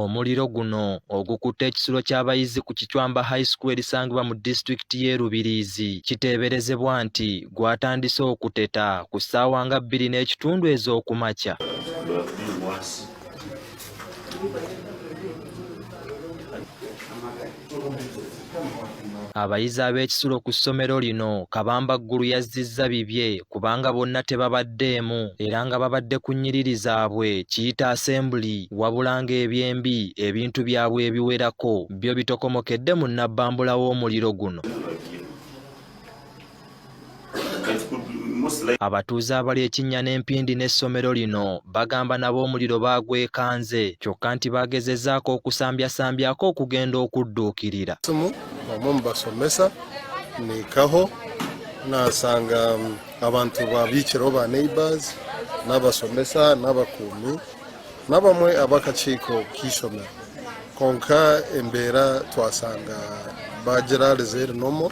Omuliro guno ogukutte ekisulo ky'abayizi ku Kicwamba High School erisangibwa mu disitulikiti y'e Rubirizi kiteeberezebwa nti gwatandise okuteta ku ssaawa nga bbiri n'ekitundu ez'okumakya. Abayizi ab'ekisulo ku ssomero lino Kabamba Ggulu yazzizza bibye kubanga bonna tebabaddeemu era nga babadde ku nnyiriri zaabwe kiyita asembuli wabula ng'ebyembi ebintu byabwe ebiwerako byo bitokomokedde mu nnabbambula w'omuliro guno. Abatuuze abali ekinnya n'empindi n'essomero lino bagamba nabo omuliro baagwekanze kyokka nti baagezezzaako okusambyasambyaako okugenda okudduukirira omu mu basomesa nikaho nasanga um, abantu babiikiraho ba neighbors n'abasomesa n'abakuumi n'abamwe ab'akakiiko k'isomero konka embeera twasanga bagira reserve normal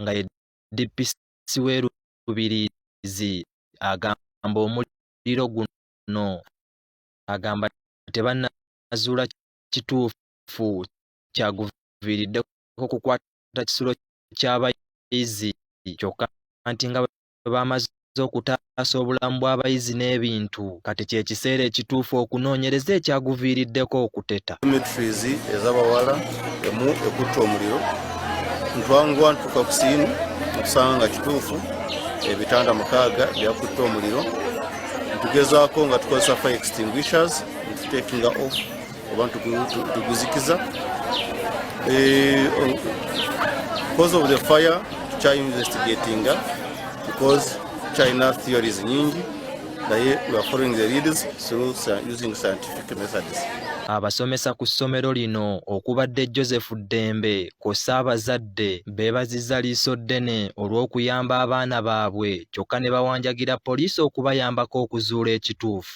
nga ye DPC w'e Rubirizi agamba omuliro guno agamba tebannazuula kituufu kyaguviiriddeko kukwata kisulo ky'abayizi kyokka nti nga bwe bwe baamaze okutaasa obulamu bw'abayizi n'ebintu kati kye kiseera ekituufu okunoonyereza ekyaguviiriddeko okuteta dormitories ez'abawala emu ekutte omuliro ntwanguwa ntuuka ku siini okusanga nga kituufu ebitanda mukaaga byakutte omuliro ntugezaako nga tukozesa fire extinguishers ntutekinga off oba tuguzikiza eh, oh, because of the fire tukya investigatinga because china theories nyingi naye we are following the leaders through using scientific methods abasomesa ku ssomero lino okubadde joseph ddembe kwossa abazadde beebazizza liiso ddene olw'okuyamba abaana baabwe kyokka ne bawanjagira poliisi okubayambako okuzuula ekituufu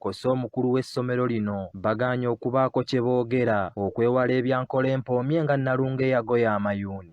kwossa omukulu w'essomero lino bagaanye okubaako kye boogera okwewala ebya Nkolempoomye nga Nalunga eyagoya amayuuni.